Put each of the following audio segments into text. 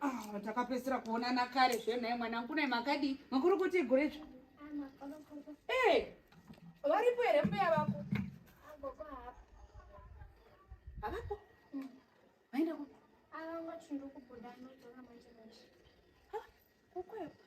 Ah, takapedzisira kuonana kare zvenhaye mwanangu naye makadii makuru kuti igure zve ee eh, varipo here mbuya vako havapo hmm. vaenda ku kukwekwa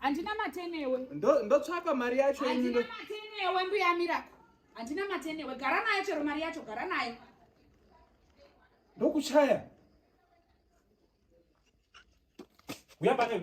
Handina mate newe. Ndo ndotsvaka mari yacho ini. Handina mate newe mbuya Miracle. Handina mate newe. Gara nayo chero mari yacho, gara nayo. Ndokuchaya. Uya pane.